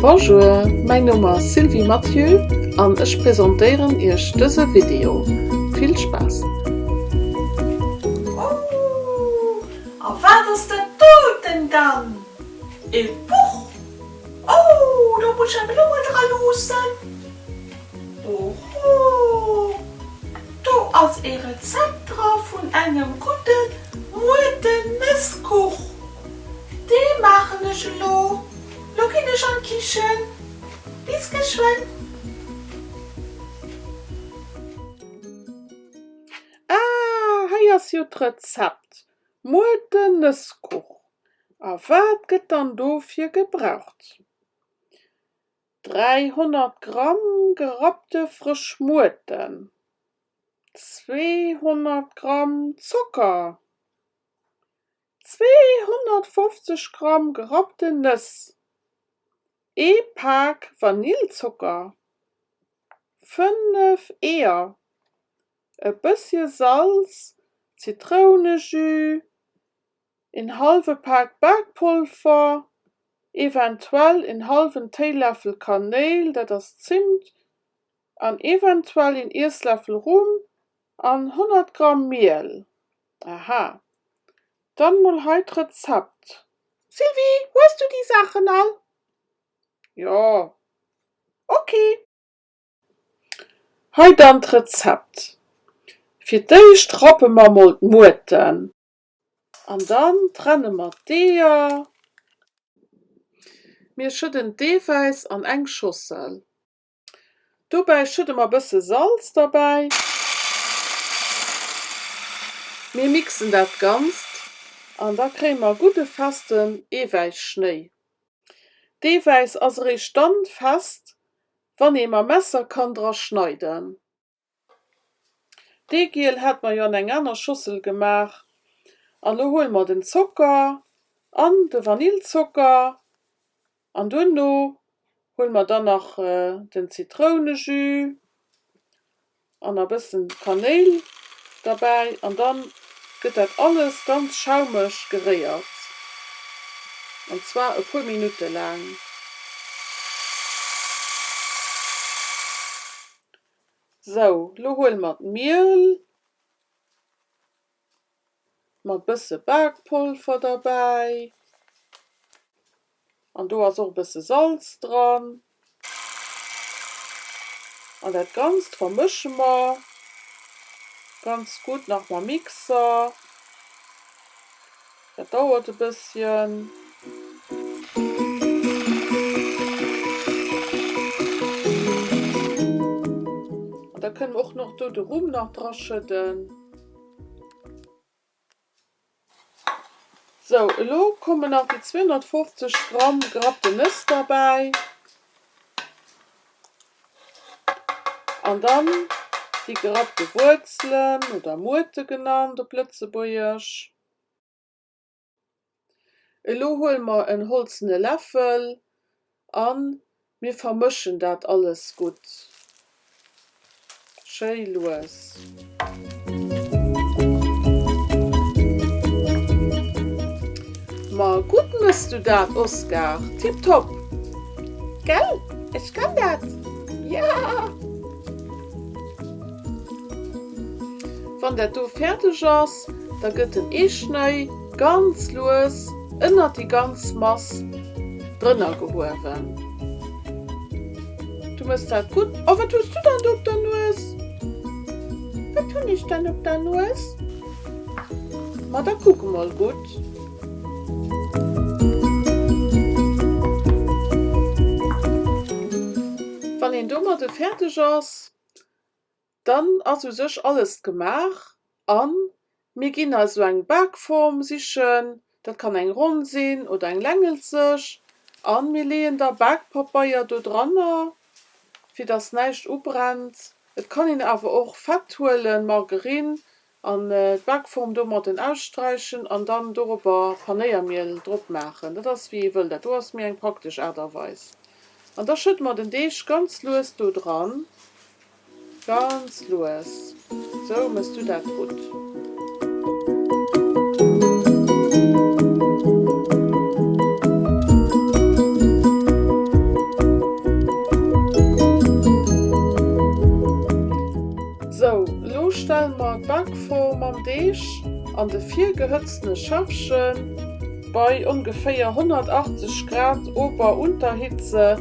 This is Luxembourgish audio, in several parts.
Bonjour, mäin Numm ass Sylvie Mathieu an ech presentéieren Iech dëse Video. Vill Spaass! Ooh! A wat ass dat doten dann? E Buch! Ooh! Do muss ech eng Blumme dra loossen. Ohoh! Do ass e Rezept dra vun engem gudde Muerte-Nësskuch. Dee maachen ech elo. Lo ginn ech an d'Kichen. Bis geschwënn! Ah, hei ass jo d'Rezept, muer den Nësskuch. A wat gëtt dann dofir gebraucht? 300 Gramm gerappte frësch Muerten, 200 Gramm Zocker, 250 Gramm gerappten Nëss, ee Pak Vanillzocker, 5 Eeër, e bëssche Salz, Zitrounejus, een halwe Pak Bakpolver, eventuell een halwen Téiläffel Kanéil, dat ass Zimt, an eventuell een Iessläffel Rum an 100 Gramm Miel. Aha, dann mol hei d'Rezept. Sylvie, hues du déi Saachen all? Jo. Ok. Hei dann d'Rezept, fir d'éischt rappe mer mol d'Muurten an dann trenne mer d'Eeër. Mir schëdden d'Eewäiss an eng Schossel, dobäi schëdde mer bësse Salz derbäi. Mir mixen dat Ganzt an da kréie mer gudde festen Eewäisschnéi. D'Eewäiss ass eréischt dann fest, Wann ee mam Messer kann dra schneiden. Dee Giel hate mer jo an eng aner Schossel gemaach. An elo huele mer den Zocker an de Vanillzocker an duerno huele mer dann nach den Zitrounejus. an a bëssen Kanéil derbäi an dann gëtt dat alles ganz schaumeg geréiert an zwar e puer Minutte laang. Sou, lo huele mer d'Miel. Mat bësse Bakpolver derbäi an do ass och bësse Salz dran an dat ganzt vermësche mer ganz gutt nach mam Mixer. Dat dauert e bësschen. An da kënne mer och nach do de Rum nach dra schëdden. Sou, elo kommen nach déi 250 Gramm gerappte Nëss derbäi. An dann déi gerappte Wuerzelen, oder Muerte genannt op Lëtzebuergesch. Elo huele mer en holzene Läffel a mir vermëschen dat alles gutt schéi lues. Ma gutt mëss du dat, Oskar! Tipptopp! Gell? Ech kann dat! Jaa! Wann dat do fäerdeg ass, da gëtt den Eeschnëi ganz lues ënnert déi ganz Mass drënner gehuewen. Du mëss dat gutt. Oh, wat hues du dann do op der Nues? Wat hunn ech dann op der Nues? Ma da kuck emol gutt. Wann een domadde fäerdeg ass, dann ass u sech alles gemaach a mir ginn also eng Bakform sichen, dat kann eng ronn sinn oder eng längelzeg, a mir leeën da Bakpapeier do dranner, fir datt näischt ubrennt. Et kann een awer och Fett huelen, Margerine, An d'Backform domatten ausstreichen an dann doropper Panéiermiel drop maachen. Dat ass wéi ee wëll, dat do ass méi eng praktesch Aart a Weis. An da schëdde mer den Deeg ganz lues do dran, ganz lues, sou mëss du dat gutt. Sou, lo stelle mer d'Bak vor mam Deeg an de virgehëtztene Schäffchen. Bei ongeféier 180 Grad Ober Unterhitze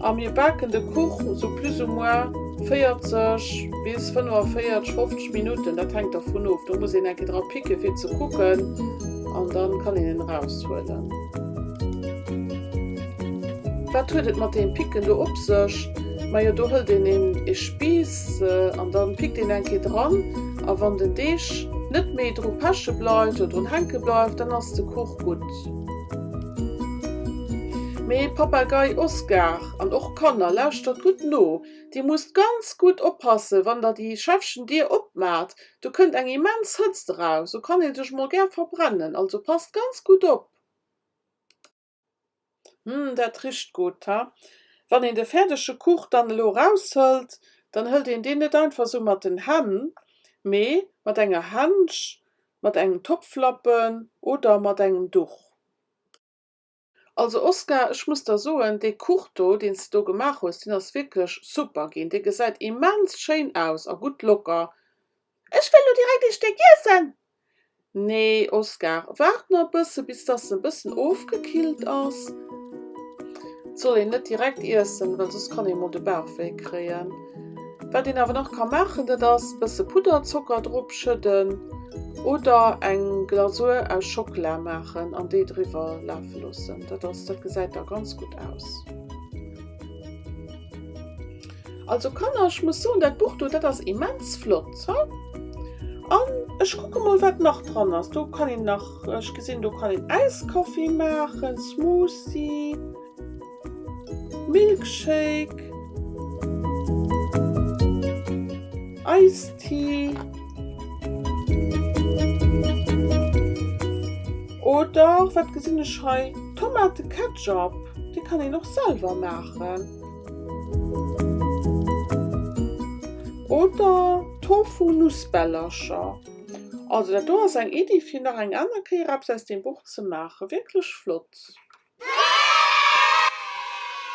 a mir baken de Kuch sou plus ou moins 40 bis 45, 50 Minutten, dat hänkt dervun of, do muss een eng Kéier dra picke fir ze kucken an da kann een en eraushuelen. Wat huet et mat deem Picken do op sech? Majo do hëlt een een ee Spiiss. An dann pickt een eng Kéier dran a wann den Deeg net méi dru peche bleift oder drun hänke bleift, dann ass de Kuch gutt. Mee Papagei Oscar an och Kanner, lauschtert gutt no, Dir musst ganz gutt oppassen, wann Der déi Schäffchen Dier opmaacht, do kënnt eng immens Hëtzt eraus, do kann ee sech mol gär verbrennen. Also passt ganz gutt op. Hm, dat richt gudd, ha. Wann een de färdege Kuch dann elo eraushëllt, dann hëllt een deen net einfach sou mat den Hänn, mee mat enger Hänsch, mat engem Topflappen oder mat engem Duch. Also Oskar, ech muss der soen, dee Kuch do, deen s de do gemaach hues, deen ass wierklech super ginn. Dee gesäit immens schéin aus a gutt locker. Ech wëll elo direkt ee Stéck iessen! Nee Oskar, waart na bësse bis dass se e bëssen ofgekillt ass. Et soll een net direkt iessen, well soss kann ee mol de Bauchwéi kréien. Wat een awer nach ka maachen, dat ass bësse Pudderzocker drop schëdden oder eng Glasur aus Schockela maachen an déi driwwer lafe loossen. Dat ass, dat gesäit da ganz gutt aus. Also Kanner ech muss soen dat Buch do dat ass immens flott he an ech kucke mol wat nach dran ass. Do kann een nach, ech gesinn do kann een Äiskaffi maachen, Smoothie, Milkshake, Ice Tea oder wat gesinn ech hei, Tomateketchup, dee kann een och selwer maachen. Oder Tofu-Nussbällercher. Also dat do ass eng Iddi fir nach eng aner Kéier eppes aus deem Buch ze maachen. Wierklech flott!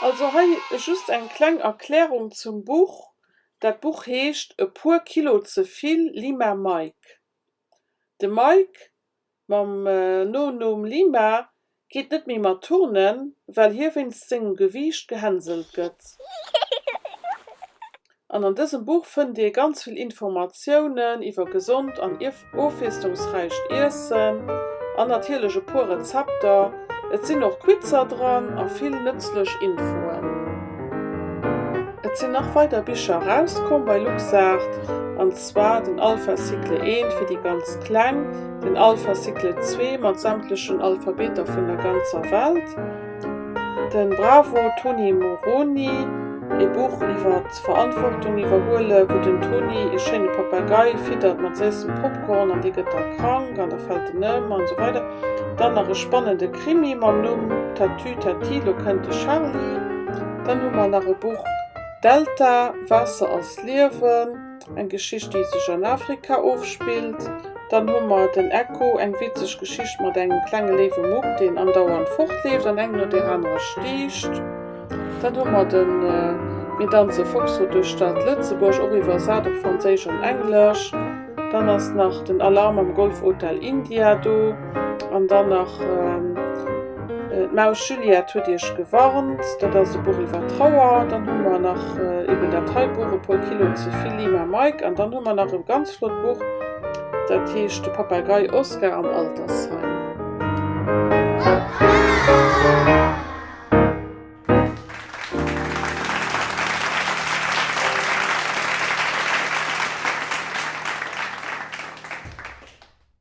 Also hei just eng kleng Erklärung zum Buch, dat Buch heescht E puer Kilo ze vill, Lima Mike. De Mike mam Nonumm Lima geet net méi mat turnen, well hie wéinst sengem Gewiicht gehänselt gëtt. An an dësem Buch fënnt Dir ganz vill Informatiounen iwwer gesond an ofwiesslungsräicht Iessen an natierlech e puer Rezepter. Et sinn och Quizzer dran a vill nëtzlech Infoen. Et sinn nach weider Bicher erauskomm bei LuxArt an. zwar den Alpha Cycle 1 fir déi ganz Kleng, den Alpha Cycle 2 mat sämtlechen Alphabeter vun der ganzer Welt, de Bravo Tony Moroni, ee Buch iwwer d'Verantwortung iwwerhuelen, wou den Tony ee schéine Papagei fiddert mat séissem Popcorn an dee gëtt da krank an da fält en ëm an esou weider. Dann nach e spannende Krimi mam Numm Tatü Tati, lo kënnt de Charly. Dann hu mer nach e Buch Delta, Waasser ass Liewen. Eng Geschicht, déi sech an Afrika ofspillt. Dann hu mer den Echo, eng witzeg Geschicht mat engem klenge léiwe Mupp, deen andauernd fortleeft an eng no där anerer stiicht. Dann hu mer den Mir danze Foxtrott duerch d'Stad Lëtzebuerg, och iwwersat op Franséisch an Englesch. Dann ass nach den Alarm am Golfhotel India do. An dann nach d'Maus Juliette huet iech gewarnt. Dat ass e Buch iwwer Trauer. Dann hu mer nach eben dat hei Buch, E puer Kilo ze vill, Lima Mike. An dann hu mer nach e ganz flott Buch, dat heescht De Papagei Oskar am Altersheim.